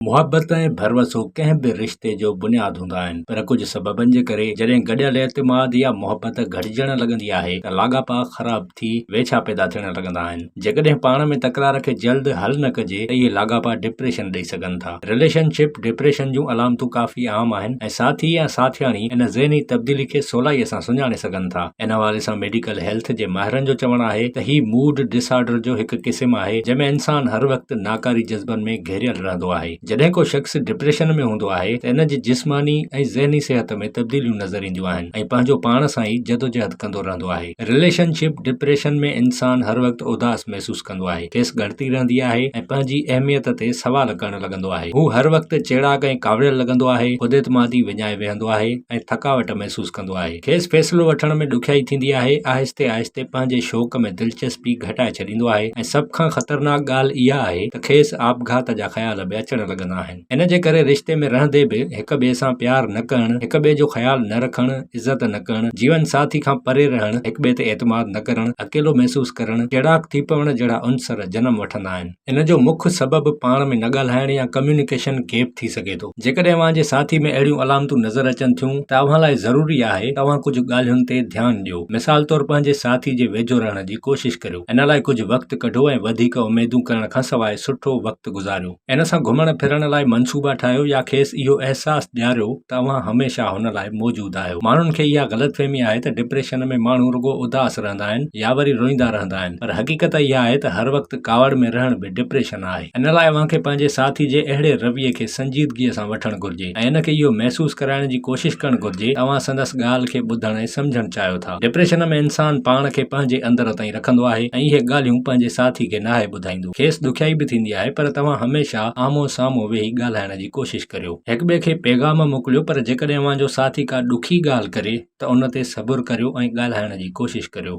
محبت ۽ ڀروسو ڪنهن به رشتي جو بنياد هوندا آهن پر ڪجهه سببن جي ڪري جڏهن گڏيل اعتماد يا محبت گهٽجڻ لڳندي آهي ته لاڳاپا خراب ٿي ويڇا پيدا ٿيڻ لڳندا آهن جيڪڏهن پاڻ ۾ تڪرار کي جلد حل نه ڪجي ته اهي لاڳاپا ڊپريشن ڏئي سگهن ٿا رليشن شپ ڊپريشن جون علامتون ڪافي عام آهن ۽ ساٿي يا ساٿياڻي ان ذهني تبديلي کي سولائي سان سڃاڻي سگهن ٿا ان حوالي سان ميڊيڪل هيلٿ جي ماهرن جو چوڻ آهي ته هي موڊ ڊس آرڊر جو هڪ قسم آهي جنهن ۾ انسان هر وقت ناڪاري جذبن ۾ گهيريل رهندو آهي. جڏهن ڪو شخص ڊپريشن ۾ هوندو آهي ته ان جي جسماني ۽ ذهني صحت ۾ تبديليون نظر اينديون آهن ۽ پنهنجو پاڻ سان ئي جدوجهد ڪندو رهندو آهي. رليشن شپ ڊپريشن ۾ انسان هر وقت اداس محسوس ڪندو آهي، کيس ڳڻتي رهندي آهي ۽ پنهنجي اهميت تي سوال ڪرڻ لڳندو آهي. هو هر وقت چيڙاڪ ۽ ڪاوڙيل لڳندو آهي، خوداعتمادي وڃائي ويهندو آهي ۽ ٿڪاوٽ محسوس ڪندو آهي. کيس فيصلو وٺڻ ۾ ڏکيائي ٿيندي آهي، آهستي آهستي پنهنجي شوق ۾ دلچسپي گهٽائي ڇڏيندو آهي ۽ سڀ کان خطرناڪ ڳالهه اها آهي ته کيس آپگهات جا خيال به اچڻ لڳندا آهن. ان جي ڪري رشتي ۾ رهندي به هڪ ٻئي سان پيار نه ڪرڻ، هڪ ٻئي جو خيال نه رکڻ، عزت نه ڪرڻ، جيون ساٿي کان پري رهڻ، هڪ ٻئي تي اعتماد نه ڪرڻ، اڪيلو محسوس ڪرڻ، چيڙاڪ ٿي پوڻ جهڙا عنصر جنم وٺندا آهن. ان جو مک سبب پاڻ ۾ نه ڳالهائڻ يا ڪميونيڪيشن گيپ ٿي سگهي ٿو. جيڪڏهن اوهان جي ساٿي ۾ اهڙيون علامتون نظر اچن ٿيون ته اوهان لاء ضروري آهي ته اوهان ڪجهه ڳالهين تي ڌيان ڏيو. مثال طور پنهنجي ساٿي جي ويجهو رهڻ جي ڪوشش ڪريو. ان لاء ڪجهه وقت ڪڍو ۽ وڌيڪ اميدون ڪرڻ کان سواء سٺو وقت گذاريو. ان سان گهمڻ ڦرڻ لاء منصوبا ٺاهيو يا کيس اهو احساس ڏياريو ته اوهان هميشه هن لاء موجود آهيو. ماڻهن کي اها غلط فهمي آهي ته ڊپريشن ۾ ماڻهو رڳو اداس رهندا آهن يا وري روئيندا رهندا آهن پر حقيقت اها آهي ته هر وقت ڪاوڙ ۾ رهڻ به ڊپريشن آهي. ان لاء اوهان کي پنهنجي ساٿي جي اهڙي رويي کي سنجيدگيء سان وٺڻ گهرجي ۽ هن کي اهو محسوس ڪرائڻ جي ڪوشش ڪرڻ گهرجي ته اوهان سندس ڳالهه کي ٻڌڻ ۽ سمجهڻ چاهيو ٿا. ڊپريشن ۾ انسان پاڻ کي پنهنجي اندر تائين رکندو آهي ۽ اهي ڳالهيون پنهنجي ساٿي کي ناهي ٻڌائيندو. کيس ڏکيائي به ٿيندي آهي پر توهان هميشه آمهون سامهون ويهي ڳالهائڻ جي ڪوشش ڪريو. هڪٻئي کي پيغام موڪليو پر جيڪڏهن اوهان جو ساٿي ڪا ڏکي ڳالهه ڪري ته ان تي صبر ڪريو ۽ ڳالهائڻ جي ڪوشش ڪريو.